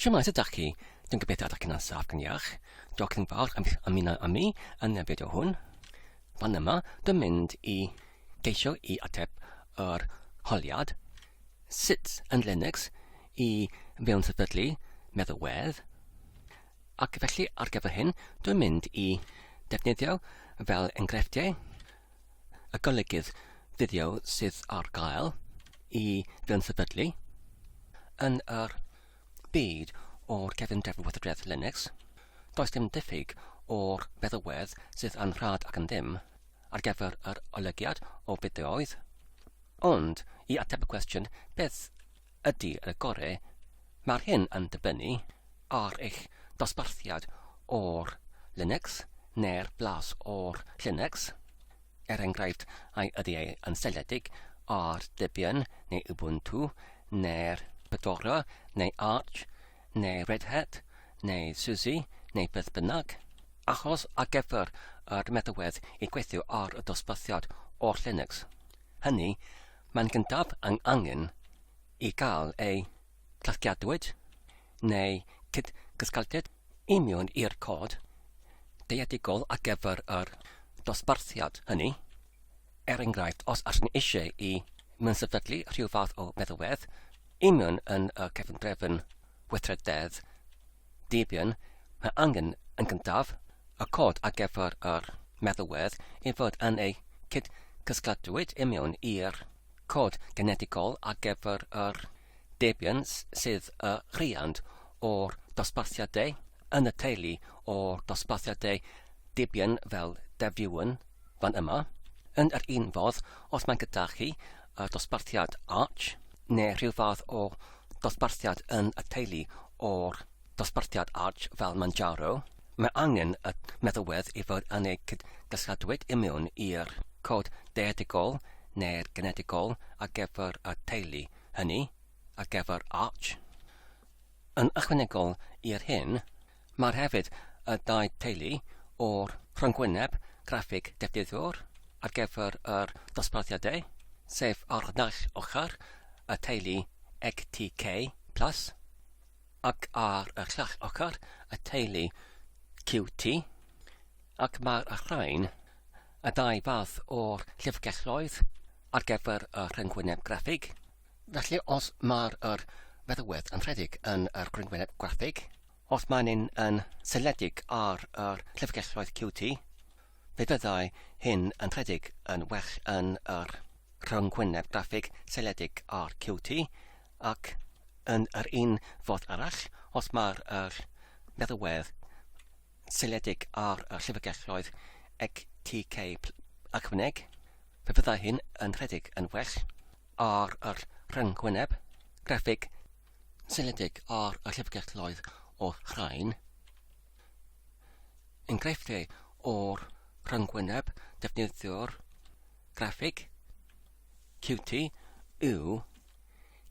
Siwmae, sut ydach chi? Dwi'n gobeithio ydych chi'n ansaf gan iach. Diolch yn fawr am ymuno â mi yn y fideo hwn. Fan yma, dwi'n mynd i geisio i ateb yr holiad sut yn Linux i fewn sefydlu meddalwedd. Ac felly ar gyfer hyn, dwi'n mynd i defnyddio fel enghreifftiau y golygydd fideo sydd ar gael i gyn-sefydlu yn yr byd o'r cefndir Llywodraeth Linux. Does dim diffyg o'r feddywedd sydd yn rhad ac yn ddim ar gyfer yr olygiad o fideoedd. Ond, i ateb y cwestiwn beth ydy y gorau, mae'r hyn yn dibynnu ar eich dosbarthiad o'r Linux neu'r blas o'r Linux, er enghraifft ai ydy e yn seiliedig ar Debian neu Ubuntu neu'r Fedora neu Arch neu Red Hat neu SUSE neu beth bynnag. Achos ar gyfer yr meddalwedd i gweithio ar y dosbarthiad o'r Linux hynny, Mae'n gyntaf ang angen i gael ei gasgliadwyd neu cyd gysgaltiad i mewn i'r cod dealltwriaethol ar gyfer yr dosbarthiad hynny, er enghraifft os ydyn ni eisiau i mewn-sefydlu rhyw fath o feddalwedd i mewn yn y cefndrefn weithrededd Debian, mae angen, yn gyntaf, y cod ar gyfer yr meddalwedd i fod yn eu cyd-gysgladwyd i mewn i'r cod genedigol ar gyfer yr Debian sydd y rhiant o'r dosbarthiadau yn y teulu o'r dosbarthiadau Debian fel Devuan, Fan yma, yn yr un fodd, os mae gyda chi dosbarthiad Arch neu rhyw fath o ddosbarthiad yn y teulu o'r dosbarthiad Arch fel Manjaro, mae angen y meddalwedd i fod yn eu cyd-gasgladwyd i mewn i'r cod deudegol neu'r genedigol ar gyfer y teulu hynny, ar gyfer Arch. Yn ychwanegol i'r hyn Mae'r hefyd y dau teulu o'r rhyngwyneb graffig defnyddiwr ar gyfer yr dosbarthiadau, sef ar naill ochr y teulu XTK plus ac ar y llall ochr y teulu QT, ac mae'r rhain y dau fath o'r llyfrgelloedd ar gyfer y rhyngwyneb graffig. Felly os mae'r yr feddalwedd yn rhedeg yn yr rhyngwyneb graffig, Os maen nhw'n yn seiliedig ar yr llyfrgelloedd QT, fe fyddai hyn yn rhedeg yn well yn yr rhyngwyneb graffig seiliedig ar QT, ac yn yr un fodd arall, os mae'r yr meddalwedd seiliedig ar y llyfrgelloedd XTK ychwaneg, fe fyddai hyn yn rhedeg yn well ar yr rhyngwyneb graffig seiliedig ar y llyfrgelloedd o'r rhain. Enghreifftiau o'r rhyngwyneb defnyddiwr graffig Qt yw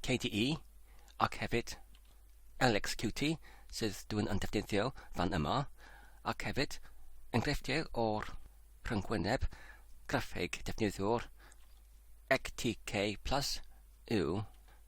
KDE ac hefyd LXQt sydd dwi'n yn defnyddio fan yma ac hefyd enghreifftiau o'r rhyngwyneb graffig defnyddiwr XTK Plus yw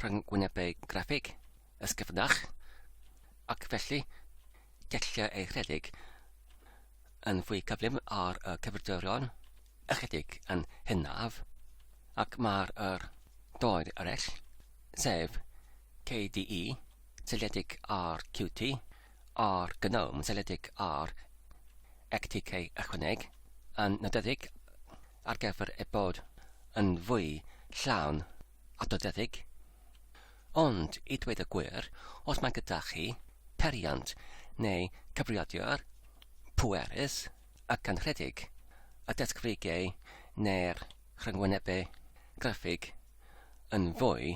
rhyngwynebau graffig ysgyfnach, ac felly gellir ei rhedeg yn fwy cyflym ar y cyfrifiaduron ychydig yn hynaf, ac mae'r yr doedd eraill, sef KDE seiliedig ar Qt, a'r GNOME seiliedig ar XTK ychwaneg, yn nodedig ar gyfer ei bod yn fwy llawn adnoddedig. Ond, i dweud y gwir, os mae gyda chi periant neu cyfrifiadur pwerus a gynrhedig, y desgfrigau neu'r rhyngwynebau graffig yn fwy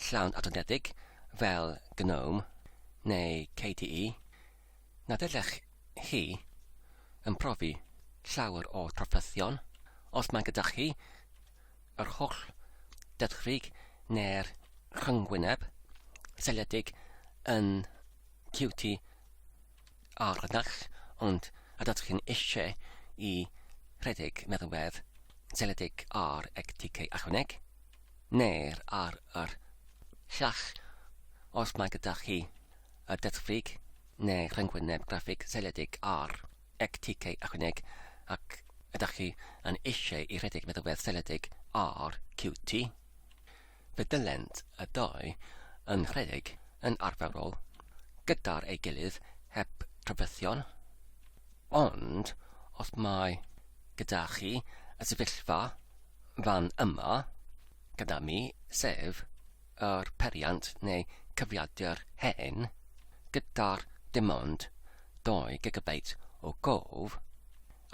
llawn adnoddedig fel GNOME neu KDE, na ddylech chi yn profi llawer o drafferthion os mae gyda chi yr holl dydchrig neu'r rhyngwyneb seiliedig yn QT ar y naill ond ydych chi'n eisiau i rhedeg meddwedd seiliedig ar ECTK ychwaneg neu'r ar yr llall os mae gyda chi y dydchrig neu rhyngwyneb graffig seiliedig ar Ec TK ychwaneg, ac ydych chi yn eisiau i rhedeg meddalwedd seiliedig ar QT? Fe dylent y ddau yn rhedeg yn arferol gyda'r ei gilydd heb drafferthion. Ond os mae gyda chi y sefyllfa fan yma gyda mi, sef yr peiriant neu cyfrifiadur hen gyda'r dim ond 2 gigabeit o gof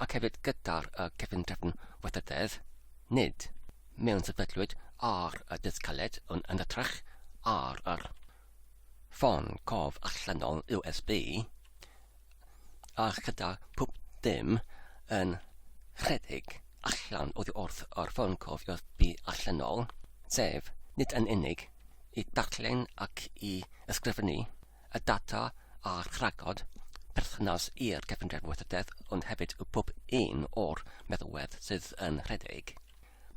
ac hefyd gyda'r y cefntrefn weithrededd, nid mewnsefydlwyd ar y disg caled ond yn hytrach ar yr ffôn cof allanol USB, a chyda pwp dim yn rhedeg allan oddi wrth yr ffôn cofio bu allanol, sef nid yn unig i ddarllen ac i ysgrifennu y data a rhagodd perthynas i'r Cyfundrefn Weithrededd ond hefyd y pwp un o'r meddalwedd sydd yn rhedeg.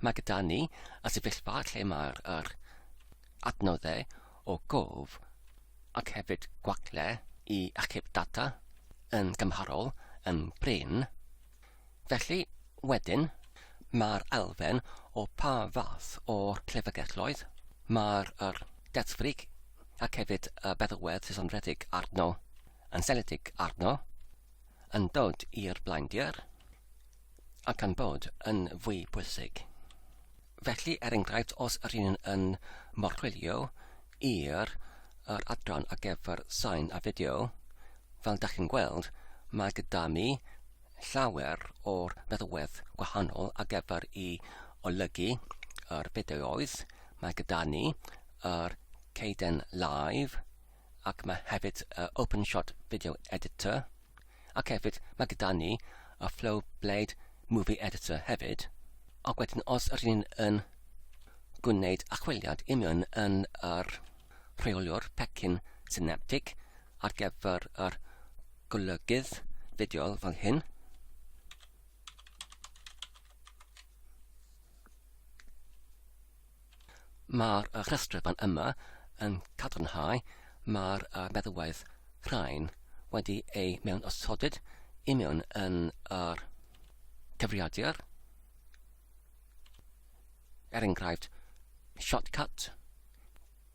Mae gyda ni y sefyllfa lle mae'r yr adnoddau o gof ac hefyd gwagle i achub data yn gymharol yn brin. Felly, wedyn, mae'r elfen o pa fath o clefygelloedd mae'r yr deddfwrig ac hefyd y feddalwedd sesonfredig arno, yn seledig arno, yn dod i'r blaendir, ac am bod yn fwy pwysig. Felly, er enghraifft, os yr un yn morchwilio i'r yr adran ar gyfer sain a fideo, fel da chi'n gweld, mae gyda mi llawer o'r meddalwedd gwahanol ar gyfer i olygu yr fideoedd. Mae gyda ni yr Caden Live, ac mae hefyd y OpenShot Video Editor, ac hefyd mae gyda ni y Flow Blade Movie Editor hefyd, ac wedyn os yr un yn gwneud achwiliad i mewn yn yr rheoliwr pecyn synaptig ar gyfer yr golygydd fideo fel hyn, Mae'r rhestr fan yma yn cadarnhau mae'r meddwraeth rhain wedi eu mewnosodid i mewn yn yr cyfrifiadur, er enghraifft shortcut,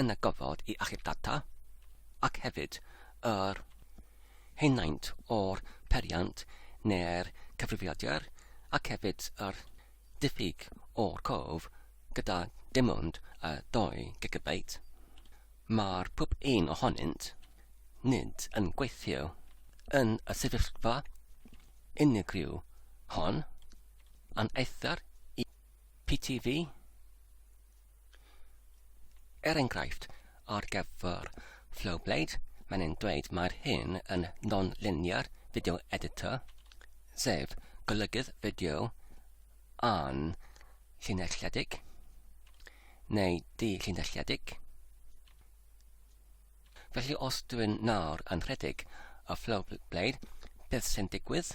yn y gofod i achub data, ac hefyd yr henaint o'r peiriant neu'r cyfrifiadur, ac hefyd yr diffyg o'r cof gyda dim ond y 2 gigabeit. Mae'r pob un ohonynt nid yn gweithio yn y sefyllfa unigryw hon, a'n eithr i PTV, Er enghraifft, ar gyfer Flowblade, mae'n ein dweud mae'r hyn yn non-linear video editor, sef golygydd fideo a'n llinelledig, neu di-llinelledig. Felly os dwi'n nawr yn rhedeg y Flowblade, beth sy'n digwydd?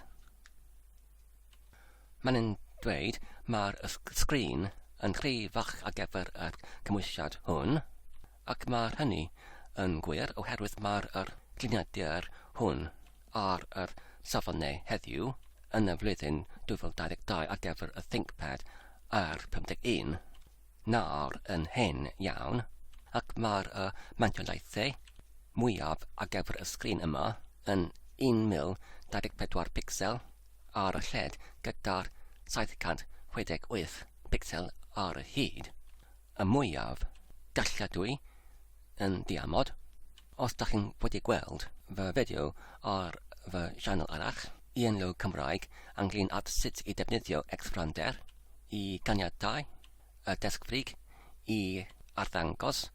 Mae'n yn dweud, mae'r sgrin yn rhy fach ar gyfer y cymwysiad hwn, ac mae hynny yn gwir oherwydd mae'r yr lliniadur hwn ar yr safone heddiw yn y flwyddyn 2022 ar gyfer y ThinkPad ar 51 nawr yn hen iawn, ac mae'r y mantiolaethau mwyaf ar gyfer y sgrin yma yn 1024 picsel, ar y lled gyda'r 768 picsel ar y hyd, y mwyaf galladwy yn diamod. Os da chi'n wedi gweld fy fideo ar fy sianel arall, Ian Lowe Cymraeg, ynglyn at sut i defnyddio Xfrander i ganiatau y desgfrig i arddangos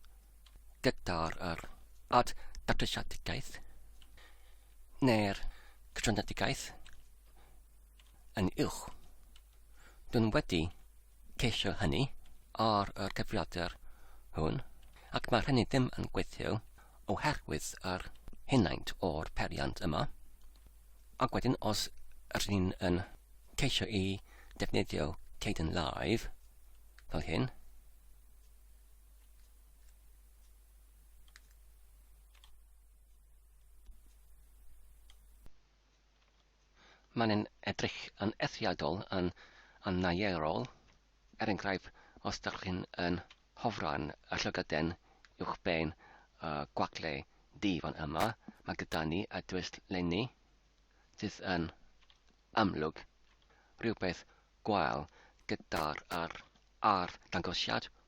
gyda'r yr ad datrysiadgaeth, neu'r cysylltiedigaeth yn uwch. Dyn wedi ceisio hynny ar yr cyfrifiadur hwn ac mae'r hynny ddim yn gweithio oherwydd yr henaint o'r periant yma. Ac wedyn os rydyn ni'n yn ceisio i defnyddio Caden Live fel hyn, Mae'n edrych yn eithriadol yn annaearol, er enghraifft os dach chi'n yn hofran y llygoden uwchben y gwagle du fan yma, mae gyda ni y dwysg lenni, sydd yn amlwg rhywbeth gwael gyda'r ar arddangosiad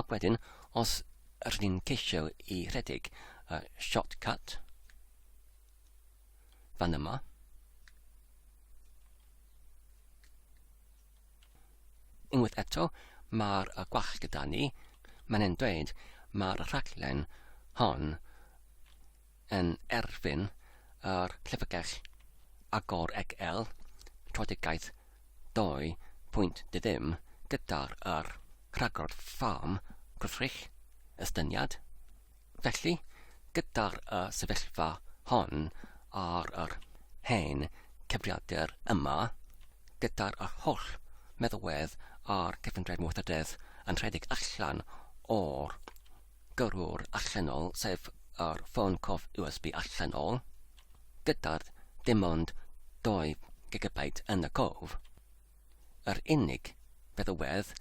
Ac wedyn, os rydyn ni'n ceisio i rhedeg y shortcut fan yma, unwaith eto, mae'r gwall gyda ni, mae'n e'n dweud mae'r rhaglen hon yn erbyn yr Llyfrgell Agor XL Strategaeth 2.0 gyda'r yr rhagor Ffrâm Gwrthrych Estyniad. Felly, gyda'r y sefyllfa hon ar yr hen cyfrifiadur yma, gyda'r yr holl meddalwedd a'r cyfundrefn weithrededd yn rhedeg allan o'r gyrrwr allanol, sef yr ffôn cof USB allanol, gyda dim ond 2 GB yn y cof. Yr unig feddywedd,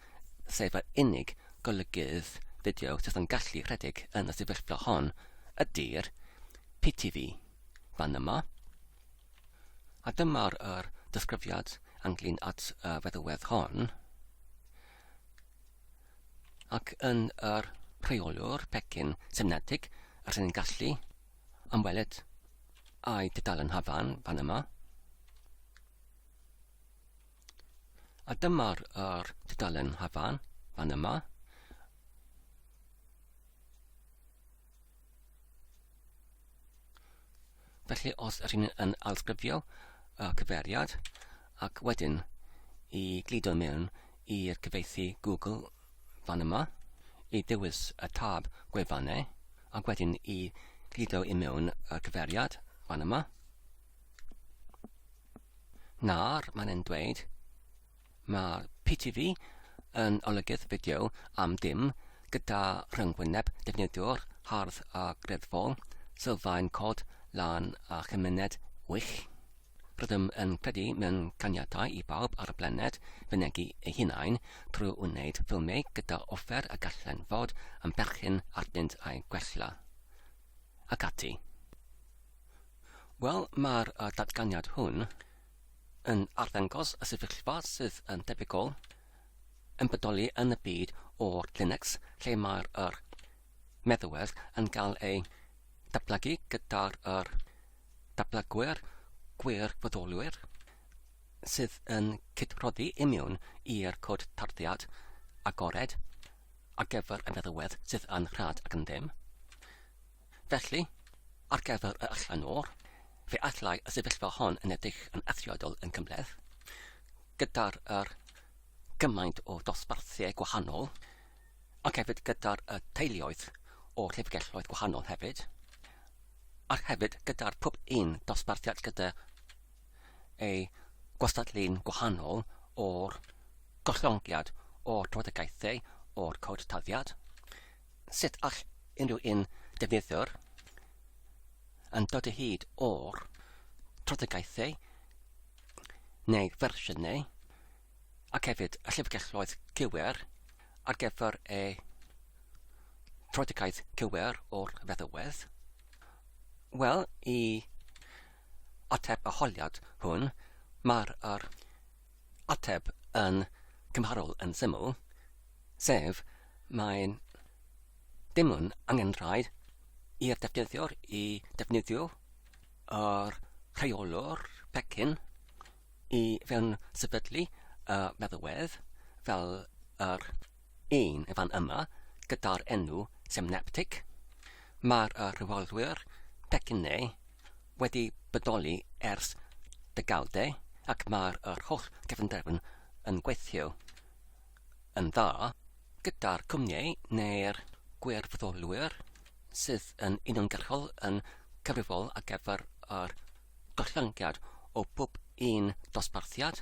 sef yr unig golygydd fideo sydd yn gallu rhedeg yn y sefyllfa hon, ydy'r PTV fan yma. A dyma'r er disgrifiad ynglyn at y feddywedd hon. ac yn yr rheolwr pecyn synthetig rydyn ni'n gallu ymweled â'i dudalen hafan fan yma. A dyma'r er, dudalen hafan fan yma. Felly os ydych chi'n yn alsgrifio y cyfeiriad ac wedyn i gludo mewn i'r cyfeithi Google fan yma, i ddewis y tab gwefannau ac wedyn i gludo i mewn y cyfeiriad fan yma. Nawr mae'n e'n dweud Mae PTV yn olygydd fideo am ddim, gyda rhyngwyneb defnyddiwr hardd a greddfol, sylfaen cod lan a chymuned wych. Rydym yn credu mewn caniatau i bawb ar y blaned fynegi eu hunain trwy wneud ffilmiau gyda offer a gallen fod yn berchen arnynt a'u gwella. Ac ati. Wel, mae'r datganiad hwn, yn arddangos y sefyllfa sydd yn debygol yn bodoli yn y byd o'r Linux lle mae'r yr meddwedd yn cael ei datblygu gyda'r yr datblygwyr gwirfoddolwyr sydd yn cydroddi imiwn i'r cod tarddiad agored ar gyfer y meddwedd sydd yn rhad ac yn ddim. Felly, ar gyfer y allan o'r, fe allai y sefyllfa hon yn edrych yn eithriadol yn gymhleth, gyda'r er, gymaint o ddosbarthiau gwahanol, ac hefyd gyda'r y teuluoedd o llyfrgelloedd gwahanol hefyd, ac hefyd gyda'r pob un dosbarthiad gyda ei gwastadlu'n gwahanol o'r gollongiad o'r drafodaethau o'r cod taddiad. Sut all unrhyw un defnyddiwr yn dod o hyd o'r trafodaethau neu fersiynau ac hefyd y llyfrgelloedd cywir ar gyfer eu trafodaeth cywir o'r feddywedd? Wel, i ateb y holiad hwn, mae'r er ateb yn gymharol yn syml, sef mae dim yn angenrhaid i'r defnyddiwr i defnyddio yr rheolwr pecyn i fewn sefydlu y meddalwedd fel yr un fan yma gyda'r enw Semneptic, mae'r rheolwyr pecyne wedi bodoli ers degawdau ac mae'r holl gefnderfyn yn gweithio yn dda gyda'r cwmnïau neu'r gwirfoddolwyr sydd yn uniongyrchol yn cyfrifol ar gyfer yr gollyniad o bob un dosbarthiad.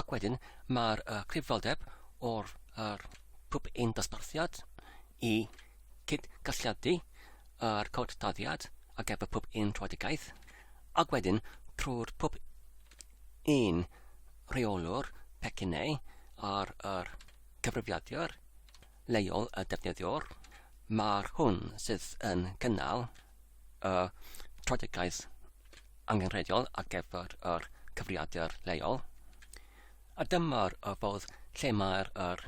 Ac wedyn mae'r uh, cyfrifoldeb o'r uh, pwp ein dosbarthiad i cyd-galliadu yr cod dyddiad ar gyfer pob un rhoedigaeth, ac wedyn trwy'r pob un rheolwr pecyn neu ar yr cyfrifiadur leol y defnyddiwr, mae'r hwn sydd yn cynnal y strategaeth angenrheidiol ar gyfer yr cyfrifiadur leol. A dyma'r y fodd lle mae'r yr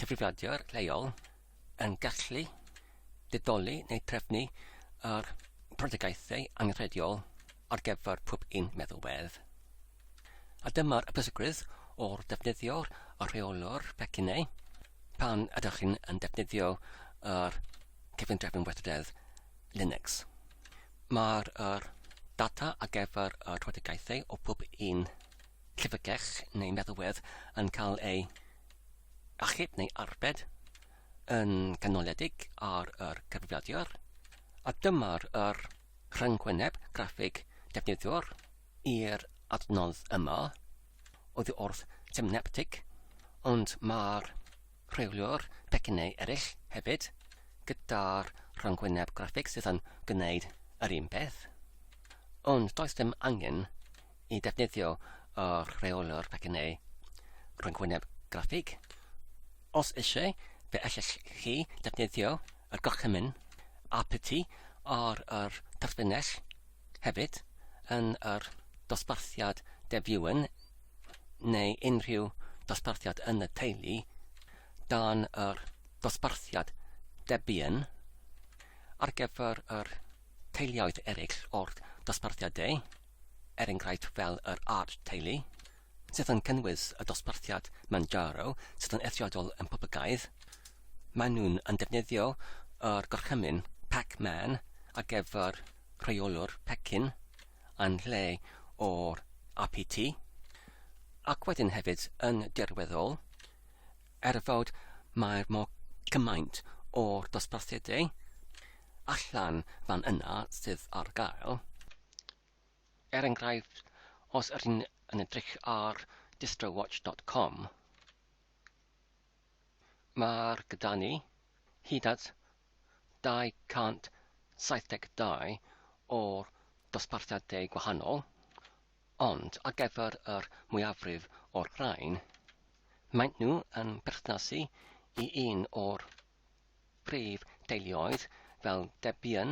cyfrifiadur leol yn gallu didoli neu trefnu yr strategaethau angenrheidiol ar gyfer pob un meddalwedd. A dyma'r pwysigrwydd o'r defnyddio'r rheolwr pecynnau pan ydych chi'n defnyddio yr cyfundrefn weithrededd Linux. Mae'r er, data ar gyfer y rhwydigaethau o pob un llyfrgell neu meddalwedd yn cael ei achub neu arbed yn canoledig ar yr cyfrifiadur, a dyma'r er, Rhyngwyneb graffig defnyddiwr i'r adnodd yma oddi wrth Semneptic, ond mae'r rheoliwr pecynnau eraill hefyd gyda'r rhyngwyneb graffig sydd yn gwneud yr un peth. Ond does dim angen i defnyddio y rheoliwr pecynnau rhyngwyneb graffig. Os eisiau, fe allech chi defnyddio y gorchymyn aPty ar yr terfynell hefyd yn yr dosbarthiad debuan neu unrhyw dosbarthiad yn y teulu dan yr dosbarthiad debuan ar gyfer yr teuluoedd eraill o'r dosbarthiadau, er enghraifft fel yr art teulu. sydd yn cynnwys y dosbarthiad Manjaro sydd yn eithriadol yn poblogaidd. Maen nhw'n yn defnyddio yr gorchymyn Pac-Man ar gyfer rheolwr pecyn yn lle o'r RPT, ac wedyn hefyd yn dirweddol, er fod mae'r mor cymaint o'r dosbarthiadau allan fan yna sydd ar gael, Er enghraifft, os ydyn yn edrych ar distrowatch dot com, mae'r gyda ni hyd at 272 o'r dosbarthiadau gwahanol, ond ar gyfer yr mwyafrif o'r rhain, maent nhw yn perthnasu i un o'r prif deuluoedd fel Debian,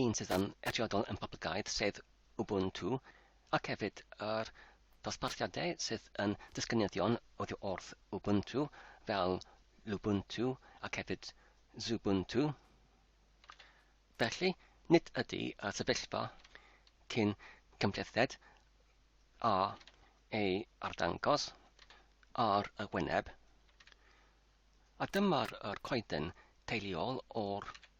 un sydd yn eithriadol yn poblogaidd, sef Ubuntu, ac hefyd yr dosbarthiadau sydd yn disgynyddion oddi wrth Ubuntu, fel Lubuntu ac hefyd Xubuntu. Felly, nid ydy y sefyllfa cyn cymhlethded a ei arddangos ar y wyneb, a dyma'r coeden teuluol o'r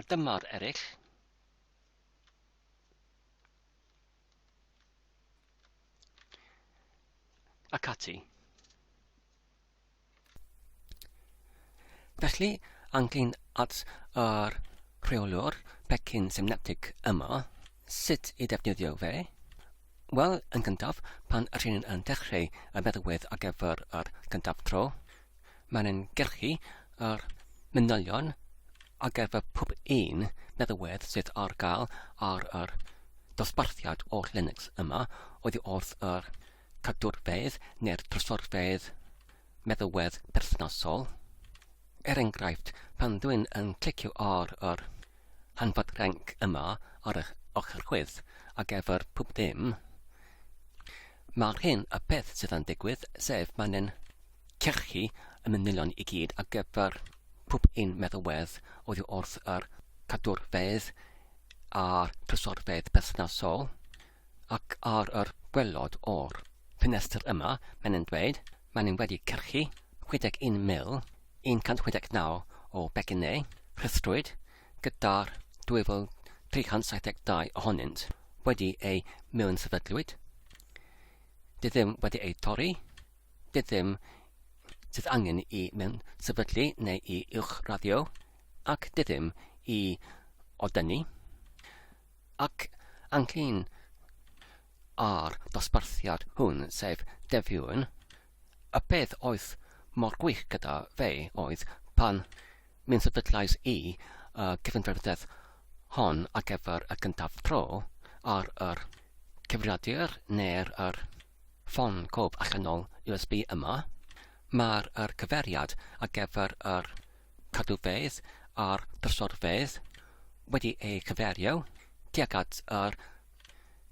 A dyma'r eraill. Ac ati. Felly, angin at yr rheolwr pecyn synaptig yma, sut i ddefnyddio fe? Wel, yn gyntaf, pan rydyn yn dechreu y meddalwedd ar gyfer yr gyntaf tro, Mae'n ein gyrchu ar manylion ar gyfer pob un meddalwedd sydd ar gael ar yr dosbarthiad oll Linux yma oddi wrth yr cadwrfeydd neu'r trysorfeydd meddalwedd perthnasol. Er enghraifft, pan dwi'n yn clicio ar yr hanfod renc yma ar eich ochr chwith ar gyfer pob dim, mae'r hyn y peth sydd yn digwydd, sef mae'n ein Cachu y manylion i gyd ar gyfer pob un meddalwedd oddi wrth yr cadwrfeydd a'r trysorfeydd perthnasol, ac ar yr gwaelod o'r ffenestr yma, mae'n yn dweud, maen nhw wedi cachu 61,169 o becynnau rhithrwyd, gyda'r 2,372 ohonynt wedi eu mewn sefydlwyd, dy ddim wedi eu torri, Dydym sydd angen i mewn sefydlu neu i uwch raddio ac dydym i odynu ac anghyn ar dosbarthiad hwn sef defiwn y peth oedd mor gwych gyda fe oedd pan mewn sefydlais i y cyfundrefnedd hon ar gyfer y gyntaf tro ar yr cyfrifiadur neu'r yr Ffôn cof allanol USB yma. Mae'r yr cyfeiriad ar gyfer yr cadwfeydd a'r drysorfeydd wedi ei cyferio tuag at yr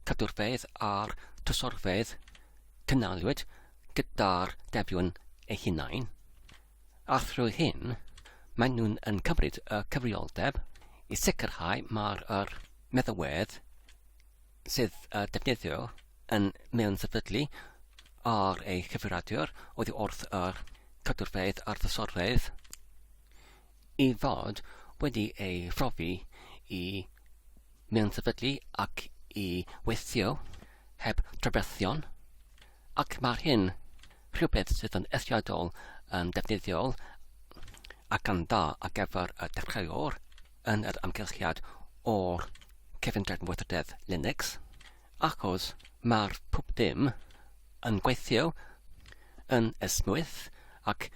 cadwrfeydd a'r trysorfeydd cynaliwyd gyda'r defion ei hunain. A thrwy hyn, maen nhw'n yn cymryd y cyfrioldeb i sicrhau mae'r yr meddalwedd sydd uh, defnyddio yn mewn sefydlu ar ei chyfeiradiwr oedd wrth yr cadwrfeydd a'r ddysorfeydd i fod wedi ei phrofi i mewn sefydlu ac i weithio heb drafferthion ac mae'r hyn rhywbeth sydd yn eithriadol yn defnyddiol ac yn dda ar gyfer y dechreuwr yn yr amgylchiad o'r cyfundrefn weithrededd Linux, achos mae'r pwp dim yn gweithio yn esmwyth ac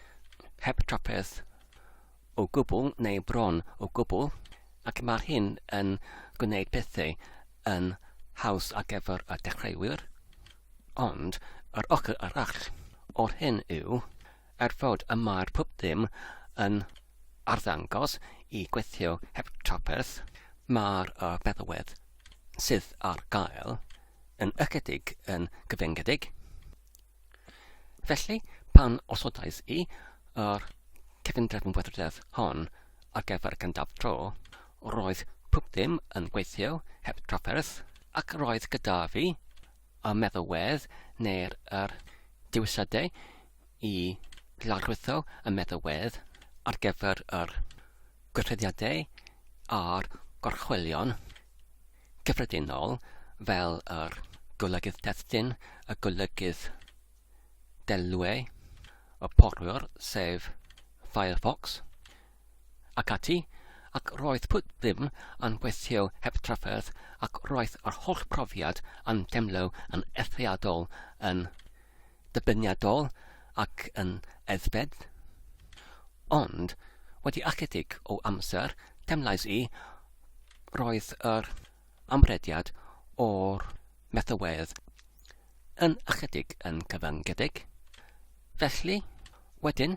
heb trafferth o gwbl neu bron o gwbl, ac mae'r hyn yn gwneud pethau yn haws ar gyfer y dechreuwyr. Ond yr ochr arall o'r hyn yw, Er fod y mae'r pub ddim yn arddangos i gweithio heb drafferth, mae'r feddalwedd sydd ar gael yn ychydig yn gyfyngedig. Felly, pan osodais i yr cefndrefn wydrededd hon ar gyfer gyntaf tro, roedd pub ddim yn gweithio heb drafferth ac roedd gyda fi y meddalwedd neu'r yr dewisadau i lawrlwytho y meddalwedd ar gyfer yr gweithrediadau a'r gorchwylion cyffredinol fel yr golygydd destun, y golygydd delweu, y porwr sef Firefox, Ac ati, ac roedd pwt ddim yn gweithio heb drafferth ac roedd yr holl brofiad yn demlo yn eithriadol yn dybyniadol ac yn eddfed. Ond, wedi ychydig o amser, temlais i, roedd yr amrediad o'r metholwedd yn ychydig yn cyfyngedig. Felly, wedyn,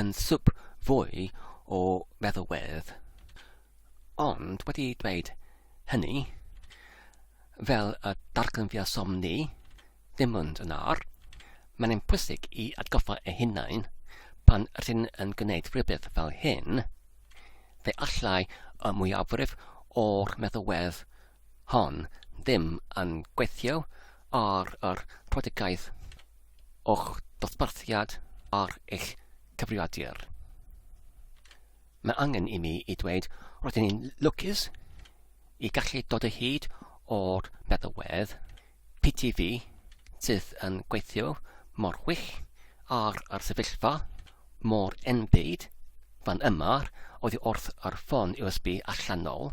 yn swp fwy o feddalwedd. Ond wedi dweud hynny, fel y darganfuasom ni ddim ond yn ar, mae'n ein pwysig i atgoffa ei hunain pan rydyn yn gwneud rhywbeth fel hyn, fe allai y mwyafrif o'r meddalwedd hon ddim yn gweithio ar yr rhoddigaeth o'ch dosbarthiad ar eich cyfrifiadur. Mae angen i mi i dweud roedd yn lwcus i gallu dod o hyd o'r meddalwedd PTV sydd yn gweithio mor wych ar yr sefyllfa mor enbyd fan yma oedd wrth yr ffôn USB allanol.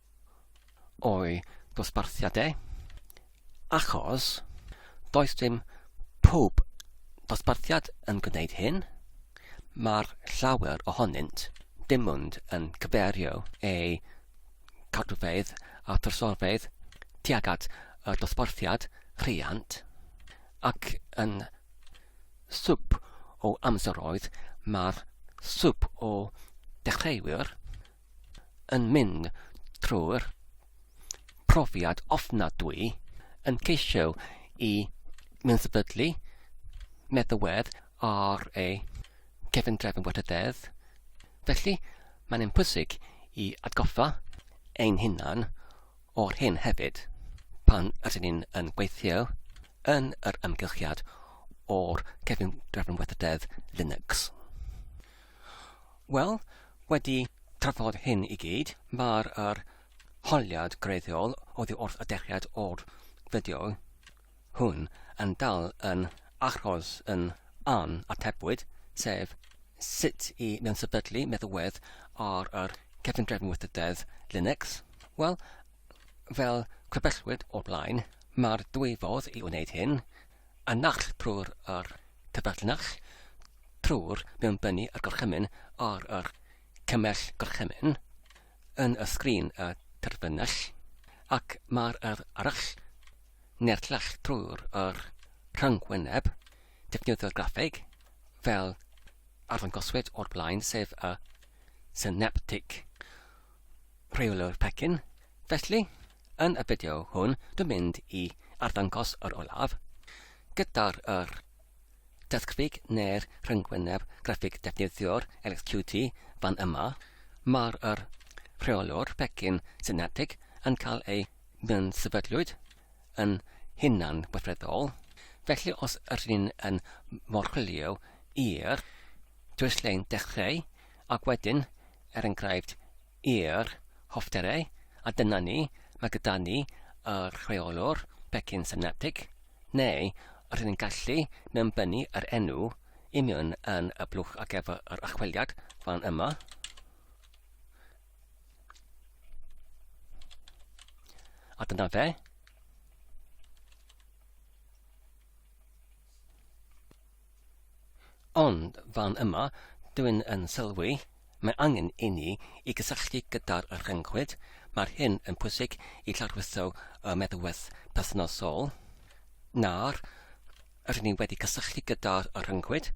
o'i dosbarthiadau, achos does dim pob dosbarthiad yn gwneud hyn, mae'r llawer ohonynt dim ond yn cyfeirio eu cadwfeydd a thrysorfeydd tuag at y dosbarthiad rhiant, ac yn swp o amseroedd mae'r swp o ddechreuwyr yn mynd trwy'r profiad ofnadwy yn ceisio i mewnfydlu meddywedd ar ei gefn drefn wedi dedd. Felly, mae'n ein pwysig i atgoffa ein hunan o'r hyn hefyd pan ydyn ni'n yn gweithio yn yr ymgylchiad o'r cefn drefn weithrededd Linux. Wel, wedi trafod hyn i gyd, mae'r yr holiad greiddiol oddi wrth y dechreuad o'r fideo hwn yn dal yn achos yn an atebwyd, sef sut i mewn-sefydlu meddalwedd ar yr cefndrefn weithrededd Linux. Wel, fel crybellwyd o'r blaen, mae'r dwy fodd i wneud hyn, yn nacl trwy'r yr cyfrinach trwy'r mewnbynnu a'r gorchymyn ar yr cymell gorchymyn yn y sgrin y terfynell ac mae'r yr arall neu'r llall trwy'r yr rhyngwyneb defnyddio'r graffeg fel arddangoswyd o'r blaen sef y synaptic rheolwr pecyn felly Yn y fideo hwn dwi'n mynd i arddangos yr olaf gyda'r yr desgfig neu'r rhyngwyneb graffig defnyddio'r LXQT fan yma. Mae'r yr rheolwr pecyn synetig yn cael ei sefydlwyd yn hunan weithredol, felly os yr ni'n yn morchwilio i'r dwyslein dechreu ac wedyn, er enghraifft, i'r hoffterau, a dyna ni, mae gyda ni y rheolwr pecyn synaptig, neu os ydyn ni'n gallu mewnbynnu yr enw union yn y blwch ar gyfer yr archwiliad fan yma, a dyna fe. Ond fan yma, dw i yn sylwi, mae angen i ni i gysylltu gyda'r rhyngwyd, mae'r hyn yn pwysig i lawrlwytho y meddalwedd perthnasol. Nawr rŷn ni wedi cysylltu gyda'r rhyngwyd,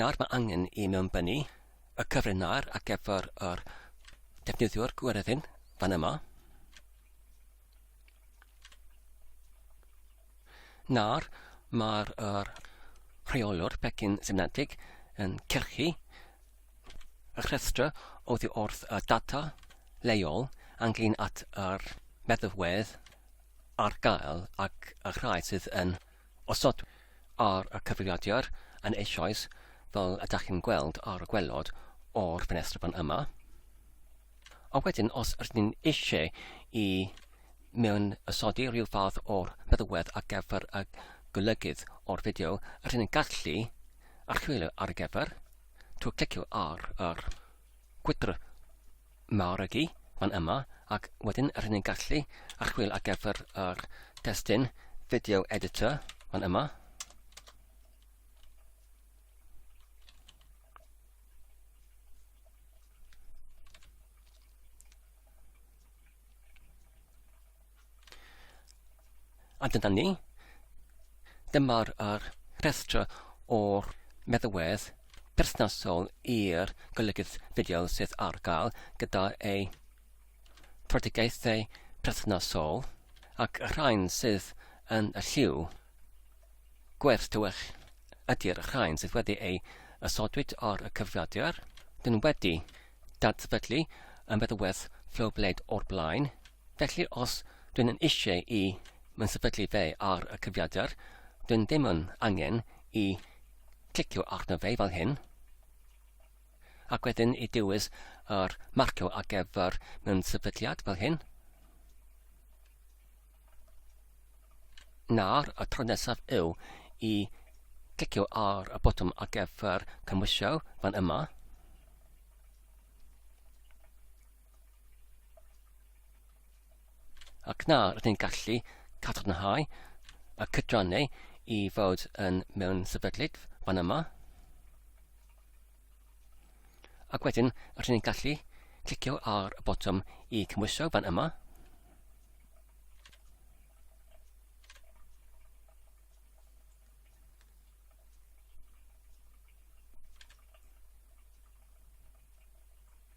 nawr mae angen i mewnbynnu y cyfrinair ar gyfer yr defnyddiwr gweryddyn fan yma. Nawr, mae'r er, rheolwr pecyn synaptig yn cyrchu y rhestr oddi wrth y data leol ynglyn at yr meddalwedd ar gael ac y rhai sydd yn osodwedd ar y cyfrifiadur yn eisoes fel ydych chi'n gweld ar y gwelod o'r ffenestr fan yma. A wedyn os rydyn ni eisiau i mewn ysodi rhyw fath o'r meddwedd ar gyfer y golygydd o'r fideo, rydyn ni'n gallu archwilio ar gyfer trwy clicio ar yr gwydr marygu fan yma ac wedyn rydyn ni'n gallu archwilio ar gyfer yr testyn video editor fan yma. A dyna ni. Dyma'r er rhestr o'r meddwedd perthnasol i'r golygydd fideo sydd ar gael gyda ei tredigaethau perthnasol ac y rhain sydd yn y lliw. Gwerth tywyll ydy'r rhain sydd wedi ei ysodwyd ar y cyfrifiadur. Dyn wedi dadsefydlu yn feddywedd Flowblade o'r blaen. Felly os dwi'n yn eisiau i mae'n sefydlu fe ar y cyfiadr, dwi'n ddim yn angen i clicio arno fe fel hyn, ac wedyn i dewis yr marcio ar gyfer mewn sefydliad fel hyn. Nawr, y tro nesaf yw i glicio ar y botwm ar gyfer cymwysio fan yma. Ac nawr rydyn ni'n gallu cadarnhau y cydrannau i fod yn mewn sefydlyd fan yma. Ac wedyn, rydyn ni'n gallu clicio ar y botwm i cymhwyso fan yma.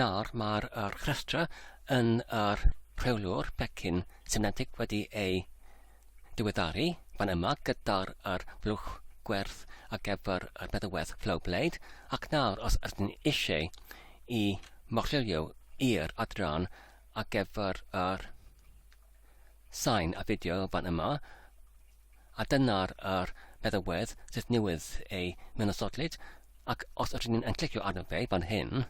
Nawr mae'r yr rhestra yn yr rheolwr pecyn synedig wedi ei diweddaru fan yma gyda'r yr blwch gwerth ar gyfer y bedywedd flow blade ac nawr os ydyn ni eisiau i morllilio i'r adran ar gyfer yr sain a fideo fan yma a dyna'r yr feddywedd sydd newydd ei mynysoddlyd, ac os ydyn ni'n clicio arno fe fan hyn,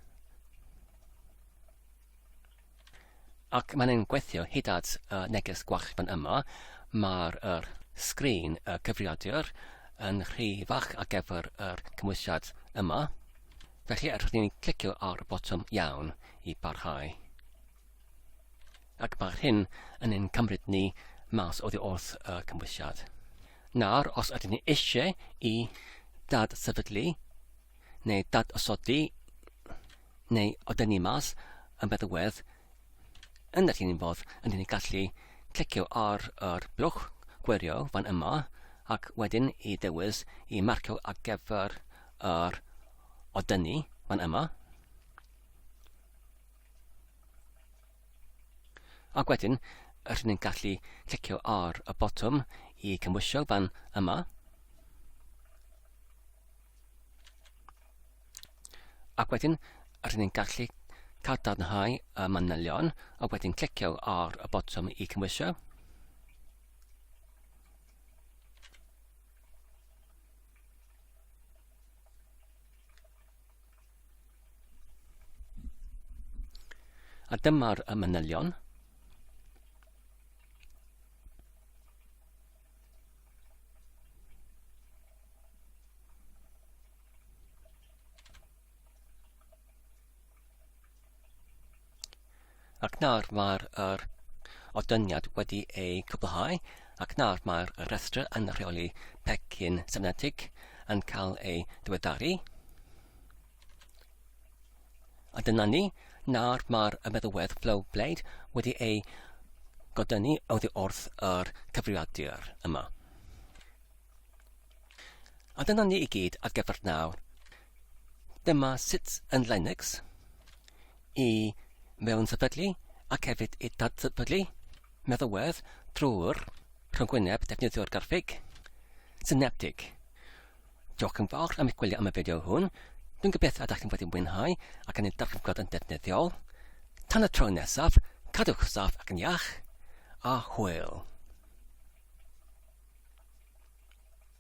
ac mae'n ein gweithio hyd at y neges gwach fan yma, mae'r er, sgrin y cyfrifiadur yn rhy fach ar gyfer yr cymwysiad yma, felly rydyn ni'n clicio ar y botwm iawn i barhau. ac mae'r hyn yn ein cymryd ni mas oddi wrth y cymwysiad. Nawr, os ydyn ni eisiau i dad sefydlu neu dad osodi neu odyn ni mas yn meddywedd, yn yr un fodd ydyn ni gallu clicio ar yr blwch gwirio fan yma ac wedyn i ddewis i marcio ar gyfer yr odynnu fan yma. Ac wedyn, rydyn ni'n gallu clicio ar y botwm i cymwysio fan yma. Ac wedyn, rydyn ni'n gallu cadarnhau y manylion a wedyn clicio ar y botwm i cymwysio. A dyma'r y manylion. Ac nawr mae'r yr odyniad wedi ei cwblhau ac nawr mae'r rhestr yn rheoli pecyn sefnetig yn cael ei diweddaru. A dyna ni, nawr mae'r meddywedd Flow Blade wedi ei godynu oddi wrth yr cyfrifiadur yma. A dyna ni i gyd ar gyfer nawr. Dyma sut yn Linux i mewn sefydlu ac hefyd i dadsefydlu meddalwedd drwy'r rhyngwyneb defnyddio'r garfig syneptig. Diolch yn fawr am eich gwylio am y fideo hwn. Dwi'n gobeithio ydych chi'n wedi mwynhau ac yn ei darllen yn defnyddiol. Tan y tro nesaf, cadwch saff ac yn iach, a hwyl!